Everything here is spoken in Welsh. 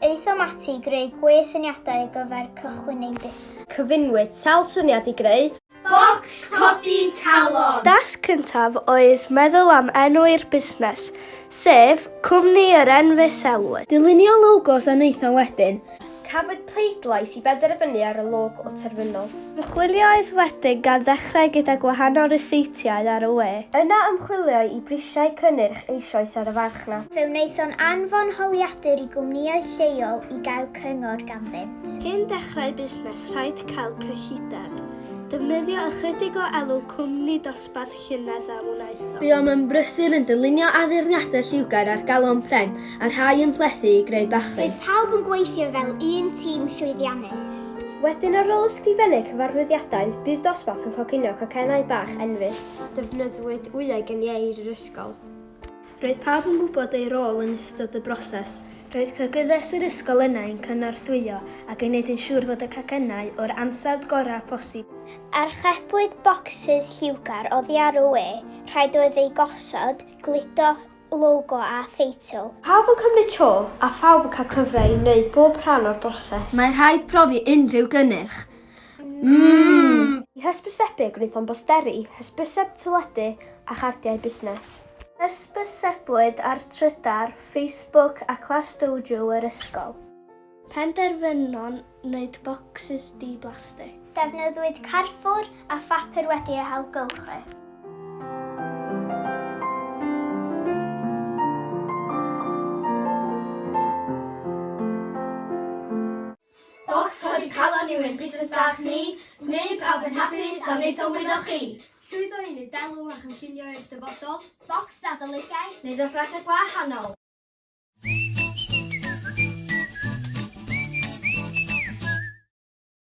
Aethom ati i greu gwe syniadau ar gyfer cychwyn ein busnes. Cyfunwyd sawl syniad i greu. Bocs codi calon! Dasg cyntaf oedd meddwl am enw i'r busnes, sef Cwmni yr Enfys Elwyn. Dylunio logos a wnaethom wedyn. Cafwyd pleidlais i benderfynu ar y logo terfynol. Ymchwilioedd wedyn gan ddechrau gyda gwahanol ryseitiau ar y we. Yna ymchwilioi i brisiau cynnyrch eisoes ar y farchnad. Fe wnaethon anfon holiadur i gwmnïau lleol i gael cyngor ganddynt. Cyn dechrau busnes rhaid cael cyllideb. Defnyddio ychydig o elw cwmni dosbarth. dosbarth llynedd a wnaethom. Buom yn brysur yn dylunio addurniadau lliwgar ar galon pren a rhai yn plethu i greu bachyn. Roedd pawb yn gweithio fel un tîm llwyddiannus. Wedyn ar ôl ysgrifennu cyfarwyddiadau, bu'r dosbarth yn coginio cocennau bach enfys. Defnyddiwyd wyau geniair yr ysgol. Roedd pawb yn gwybod eu rôl yn ystod y broses. Roedd cogyddes yr ysgol yna i'n cynorthwyo ac i wneud yn siŵr fod y cacennau o'r ansawdd gorau posib. Archebwyd bocsys lliwgar oddi ar y we, rhaid oedd eu gosod, gludo logo a theitl. Pawb yn cymryd tro a phawb yn cael cyfle i wneud bob rhan o'r broses. Mae rhaid profi unrhyw gynnyrch. Mmm! I hysbysebu gwnaethom bosteri, hysbyseb teledu a chardiau busnes. Hysbysebwyd ar Trydar, Facebook a Class Dojo yr ysgol. Penderfynon wneud bocsys di-blastig. Defnyddiwyd carfwr a phapur wedi eu hailgylchu. Bocs codi calon yw ein busnes bach ni, neu pawb yn hapus a wnaethom wyno chi! Llwyddo i wneud elw a chynllunio i'r dyfodol? Bocs adolygiaeth neu ddosbarthiad gwahanol?